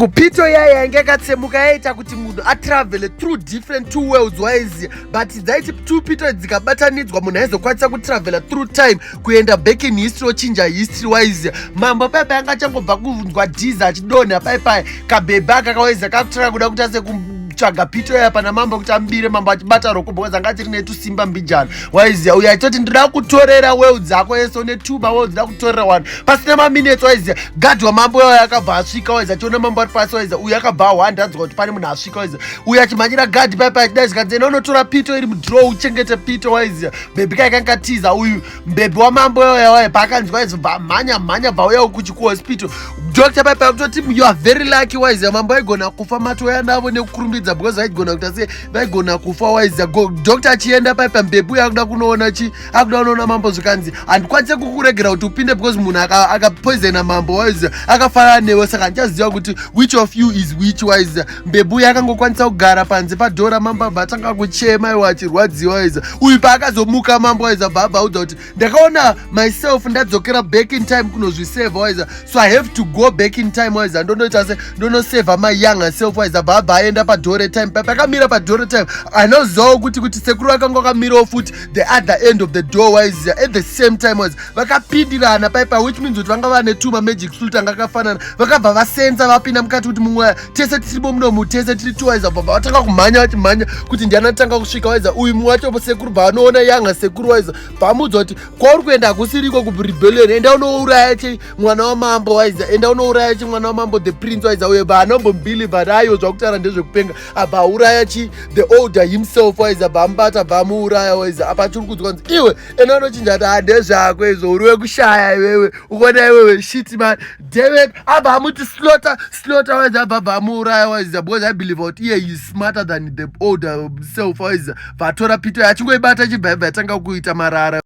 kupito iya yainge yakatsemuka yaiita kuti munhu atravele through different two worlds waiziva but dzaiti two pito dzikabatanidzwa munhu aizokwanisa kutravela through time kuenda back in history ochinja history waiziva mambo paipai anga achangobva kunzwa dhiza achidonha paipai kabhebhe aka kawaiziva kakutanga kuda kuita seku tsvaga pito yaya pana mambo kuti ambire mambo achibata roko because anga tiri netusimba mbijana waiziya uyo aitoti ndida kutorera well dzako yese une tuba well dzida kutorera wani pasina maminetsi waiziva gadhi wamambo wayo akabva asvika waiza chiona mambo ari pasi waiza uyu akabva ahwanda anzwa kuti pane munhu asvika waiza uyu achimhanyira gadhi paipa achidaizikadzena unotora pito iri mudrow uchengete pito waiziva mbebhi kaikanga tiza uyu mbebhi wamambo wayo waye paakanzwa waiza bva mhanya mhanya bva uyawo kuchi kuhospital doctor paipa akutoti you are very lucky waiziva mambo aigona kufa matoya navo nekukurumbidza because vaigona kuita se vaigona kufa waiziva doctor achienda paipa mbebhi uyo akuda kunoona chi akuda unoona mambo zvikanzi handikwanise kukuregera kuti upinde because munhu akapoisona aka mambo waiziva akafanana newe saka ndichaziva kuti which of you is which waiziva mbebhu uye akangokwanisa kugara panze padhora mambo abva atanga kuchema iwe achirwadziwa waiziva uyu paakazomuka mambo waiziva bva abva audza kuti ndakaona myself ndadzokera back in time kunozviseva waiziva so i have to go back in time waiziva ndondoita se ndonoseva my younger self waiziva bva abva aenda padhore time papakamira padhore time anozivawo kuti kuti sekuru akanga akamirawo futi the other end of the door wise at the same time was vakapindirana paipa which means kuti vanga vane two mamagic flute anga akafanana vakabva vasenza vapinda mukati kuti mumwe tese tiribo munomu tese tiri two waiza bvabva vatanga kumhanya vachimhanya kuti ndiani atanga kusvika waiza uyu mumwe wacho sekuru bvaanoona yanga sekuru waiza bvamuudza kuti kwauri kuenda hakusiriko kurebellion enda unouraya che mwana wamambo waiza enda unouraya che mwana wamambo the prince waiza uye bvaanombombiliva raiyo zvakutaura ndezvekupenga abva auraya chi the older himself waiz abva amubata abva amuuraya waiz apa achiri kudzwa nzi iwe ena anochinja ati hande zvako izvo uri wekushaya iwewe ukona iwewe shit man david abva amuti slota slota waiz abva abva amuuraya waiz because i believe out iye is smarter than the older self waiz vatora pito yachingoibata chibva ibva yatanga kuita marara